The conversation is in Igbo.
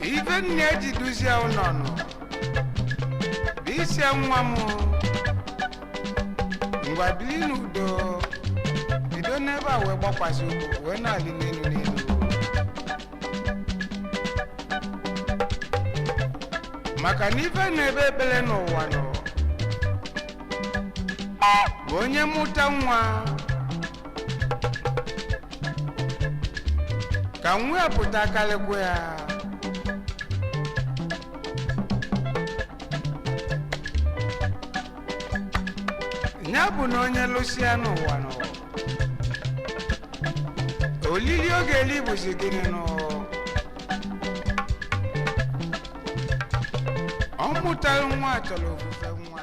ife nne eji duzie ụnọ nụ bụ ị sị nwa m ngwa bili n'udo bido n'ebe a wee gbakwasị ụkwụ wee na-alị n'enu n'enu maka na ife na-ekpe ekpele n'ụwa nụ bụ onye mụta nwa ka nwa ya pụta kalịkwa ya nya bụ na onye lụsịa n'ụwa nụ olili ọ ga-eli bụzi gịnị nụ ọ mụtalụ nwa chọrọ ofufe nwa